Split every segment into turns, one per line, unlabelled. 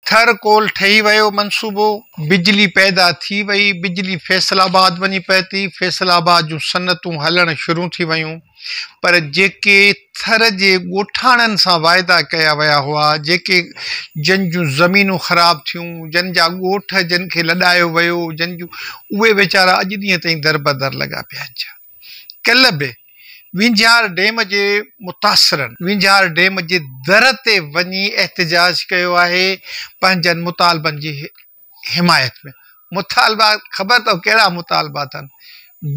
Thar coal ٺهي ويو منصوبو، بجلي پيدا ٿي وئي، بجلي فيصل آباد وڃي پهتي، فيصل آباد جون صنعتون هلڻ شروع ٿي ويون پر جيڪي ٿر جي ڳوٺاڻن سان واعدا ڪيا ويا هئا، جيڪي جن جون زمينون خراب ٿيون، جن جا ڳوٺ جن کي لڏايو ويو، جن جون اهي ويچارا اڄ ڏينهن تائين دربدر لڳا پيا آهن. ڪلهه به وينجهار ڊيم جي متاثرن وينجهار ڊيم جي در تي وڃي احتجاج ڪيو آهي پنهنجن مطالبن جي حمايت ۾ مطالبا خبر اٿو ڪهڙا مطالبا اٿن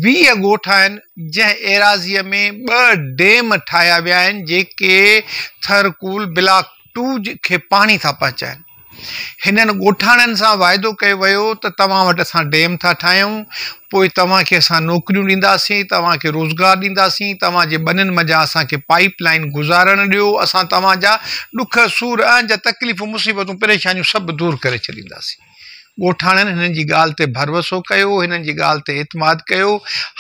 ويهه ڳوٺ آهن جنهن ايراضي ۾ ٻه ڊيم ٺاهيا ويا آهن جيڪي ٿر ڪول بلاڪ ٽو کي پاڻي ٿا پهچائن هنن ڳوٺاڻن سان واعدو ڪيو ويو ته توهان وٽ اسان ڊيم ٿا ٺاهيون، پوء توهان کي اسان نوڪريون ڏينداسين، توهان کي روزگار ڏينداسين، توهان جي ٻنين منجهان اسان کي پائيپ لائين گذارڻ ڏيو، اسان توهان جا ڏک، سور، اهنج، تڪليفون، مصيبتون، پريشانيون سڀ دور ڪري ڇڏينداسين. ڳوٺاڻن هنن جي ڳالهه تي ڀروسو ڪيو، هنن جي ڳالهه تي اعتماد ڪيو.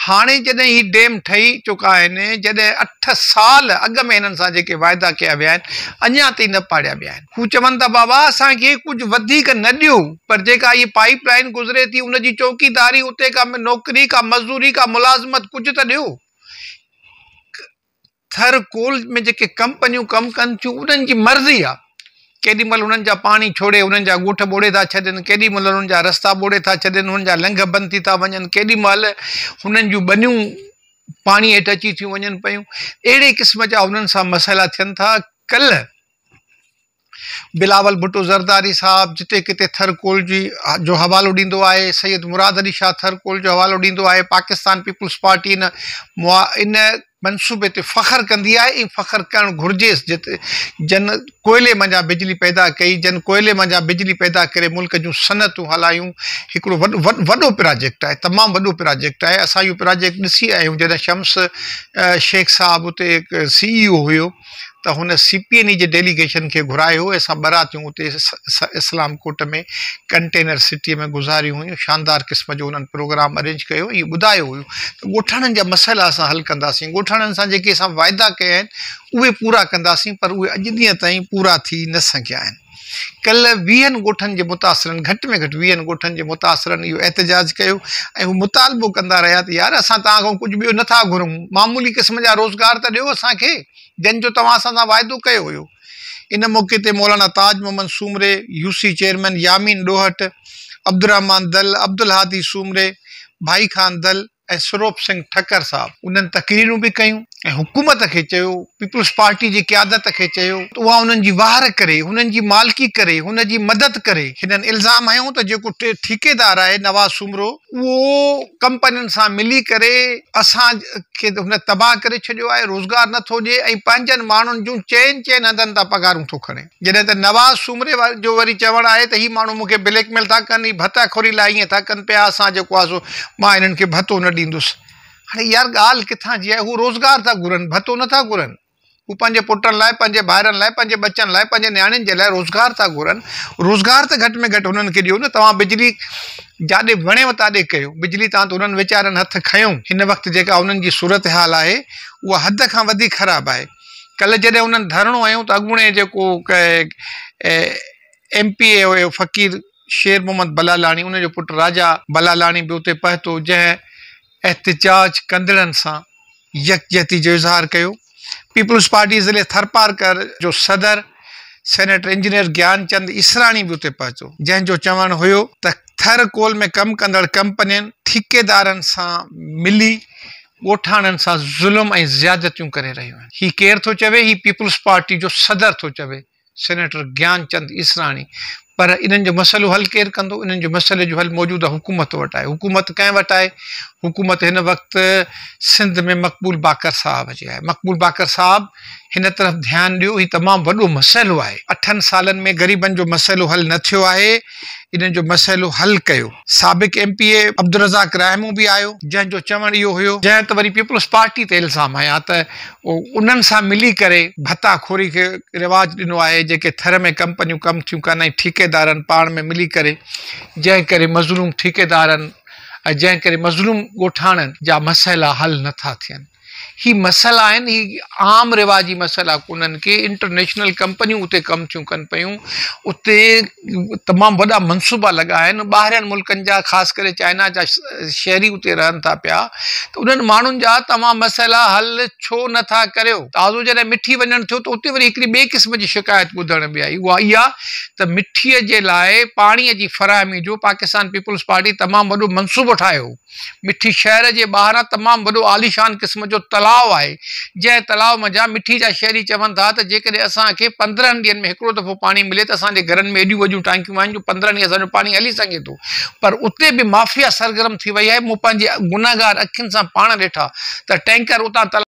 هاڻي جڏهن هي ڊيم ٺهي چڪا آهن، جڏهن اٺ سال اڳ ۾ هنن سان جيڪي واعدا ڪيا ويا آهن، اڃا تائين نه پاڙيا ويا آهن. هو چون ٿا بابا اسان کي ڪجهه وڌيڪ نه ڏيو پر جيڪا هيء پائيپ لائين گذري ٿي ان جي چوڪيداري اتي ڪا نوڪري ڪا مزدوري ڪا ملازمت ڪجهه ته ڏيو. ٿر ڪول ۾ جيڪي ڪمپنيون ڪم ڪن ٿيون انهن جي مرضي آ ڪيڏي مهل انهن جا پاڻي ڇوڙي انهن جا ڳوٺ ٻوڙي ٿا ڇڏين ڪيڏي مهل انهن جا رستا ٻوڙي ٿا ڇڏين انهن جا لنگهه بند ٿي ٿا وڃن ڪيڏي مهل انهن جون ٻنيون پاڻي هيٺ اچي ٿيون وڃن پيون اهڙي قسم جا انهن سان مسئلا ٿين ٿا ڪلهه بلاول ڀٽو زرداري صاحب جتي ڪٿي ٿر ڪول جي جو حوالو ڏيندو آهي، سيد مراد علي شاهه ٿر ڪول جو حوالو ڏيندو آهي، پاڪستان پيپلز پارٽي ان ان منصوبي تي فخر ڪندي آهي ۽ فخر ڪرڻ گهرجيس جت جن ڪوئلي منجهان بجلي پيدا ڪئي، جن ڪوئلي منجهان بجلي پيدا ڪري ملڪ جون صنعتون هلايون، هڪڙو وڏو وڏو پراجيڪٽ آهي تمام وڏو پراجيڪٽ آهي، اسان اهو پراجيڪٽ ڏسي آيا آهيون جڏهن شمس شيخ صاحب اتي سي اي او هيو. ته هن سي پي اين اي جي ڊيليگيشن کي گهرايو هو، اسان ٻه راتيون اتي اسلام ڪوٽ ۾ ڪنٽينر سٽيء ۾ گذاريون هيون، شاندار قسم جو هنن پروگرام ارينج ڪيو هو، ائين ٻڌايو هيو ته ڳوٺاڻن جا مسئلا اسان حل ڪنداسين، ڳوٺاڻن سان جيڪي اسان واعدا ڪيا آهن، اهي پورا ڪنداسين، پر اهي اڄ ڏينهن تائين پورا ٿي نه سگهيا آهن. ڪلهه ويهن ڳوٺن جي متاثرن گهٽ ۾ گهٽ ويهن ڳوٺن جي متاثرن اهو احتجاج ڪيو ۽ هو مطالبو ڪندا رهيا ته يار اسان توهان کان ڪجهه ٻيو نه ٿا گهرون معمولي قسم جا روزگار ته ڏيو اسان کي جن جو توهان اسان سان واعدو ڪيو هيو. ان موقعي تي مولانا تاج محمد سومري، يوسي چيئرمين يامين ڏوهٽ، عبدالرحمان دل، عبدالهادي سومري، ڀائي خان دل، ۽ سروپ سنگهه ٺڪر صاحب انهن تقريرون به ڪيون ۽ حڪومت کي چيو، پيپلز پارٽي جي قيادت کي چيو ته اها انهن جي واهر ڪري، هنن جي مالڪي ڪري، هن جي مدد ڪري. هنن الزام هنيو ته جيڪو ٺيڪيدار آهي نواز سومرو اهو ڪمپنين سان ملي ڪري اسان کي هن تباهه ڪري ڇڏيو آهي، روزگار نه ٿو ڏئي ۽ پنهنجن ماڻهن جون چئن چئن هنڌن تان پگهارون ٿو کڻي. جڏهن ته نواز سومري جو وري چوڻ آهي ته هي ماڻهو مون کي بليڪ ميل ٿا ڪن، هي ڀتا خوري لاء ائين ٿا ڪن پيا، اسان جيڪو آهي سو مان هنن کي ڀتو نه ڏيندس. هاڻي يار ڳالهه ڪٿان جي آهي، هو روزگار ٿا گهرن، ڀتو نه ٿا گهرن. هو پنهنجي پٽن لاء، پنهنجي ڀائرن لاء، پنهنجي ٻچن لاء، پنهنجي نياڻين جي لاء روزگار ٿا گهرن. روزگار ته گهٽ ۾ گهٽ هنن کي ڏيو نه. توهان بجلي جاڏي وڻيو تاڏي ڪيو. بجلي تان ته هنن ويچارن هٿ کنيو. هن وقت جيڪا هنن جي صورتحال آهي اها حد کان وڌيڪ خراب آهي. ڪلهه جڏهن انهن ڌرڻو هنيو ته اڳوڻي جيڪو ايم پي اي هيو فقير شير محمد بلالاڻي ان جو پٽ راجا بلالاڻي به اتي پهتو جنهن احتجاج ڪندڙن سان يڪجهتي جو اظهار ڪيو. پيپلز پارٽي ضلعي ٿرپارڪر جو صدر سينيٽر انجنيئر گيان چند اسراڻي به اتي پهتو جنهن جو چوڻ هيو ته ٿر ڪول ۾ ڪم ڪندڙ ڪمپنين ٺيڪيدارن سان ملي ڳوٺاڻن سان ظلم ۽ زيادتيون ڪري رهيون آهن هي ڪير ٿو چوي هي پيپلز پارٽي جو صدر ٿو چوي سينيٽر گيان چند عيسراڻي پر انهن جو مسئلو حل ڪير ڪندو انهن جي مسئلي جو حل موجوده حڪومت وٽ آهي حڪومت ڪنهن وٽ آهي حڪومت هن وقت سنڌ ۾ مقبول باقر صاحب جي آهي مقبول باقر صاحب هن طرف ڌيان ڏيو هي تمام وڏو مسئلو آهي اٺن سالن ۾ غريبن جو مسئلو حل نه ٿيو آهي. انهن جو مسئلو حل ڪيو. سابق M P A Abdulrazzaq Rahmoon به آيو جنهن جو چوڻ اهو هيو جنهن ته وري پيپلز پارٽي تي الزام هنيا ته انهن سان ملي ڪري ڀتا خوري کي رواج ڏنو آهي جيڪي ٿر ۾ ڪمپنيون ڪم ٿيون ڪن ۽ ٺيڪيدارن پاڻ ۾ ملي ڪري جنهن ڪري مظلوم ٺيڪيدارن ۽ جنهن ڪري مظلوم ڳوٺاڻن جا مسئلا حل نٿا ٿين. هي مسئلا آهن، هي عام رواجي مسئلا ڪونهن ڪي انٽرنيشنل ڪمپنيون اتي ڪم ٿيون ڪن پيون، اتي تمام وڏا منصوبا لڳا آهن، ٻاهرين ملڪن جا خاص ڪري چائنا جا شهري اتي رهن ٿا پيا ته انهن ماڻهن جا توهان مسئلا حل ڇو نه ٿا ڪريو؟ تازو جڏهن مٺي وڃڻ ٿيو ته اتي وري هڪڙي ٻئي قسم جي شڪايت ٻڌڻ ۾ آئي اها اها ته مٺي جي لاء پاڻي جي فراهمي جو پاڪستان پيپلز پارٽي تمام وڏو منصوبو ٺاهيو هو، مٺي شهر جي ٻاهران تمام وڏو عاليشان قسم جو تلاء آهي، جنهن تلاء منجهان مٺي جا شهري چون ٿا ته جيڪڏهن اسان کي پندرهن ڏينهن ۾ هڪڙو دفعو پاڻي ملي ته اسان جي گهرن ۾ ايڏيون وڏيون ٽانڪيون آهن جو پندرهن ڏينهن اسان جو پاڻي هلي سگهي ٿو. پر اتي به مافيا سرگرم ٿي وئي آهي، مون پنهنجي گنهگار اکين سان پاڻ ڏٺا ته ٽينڪر اتان تلاء.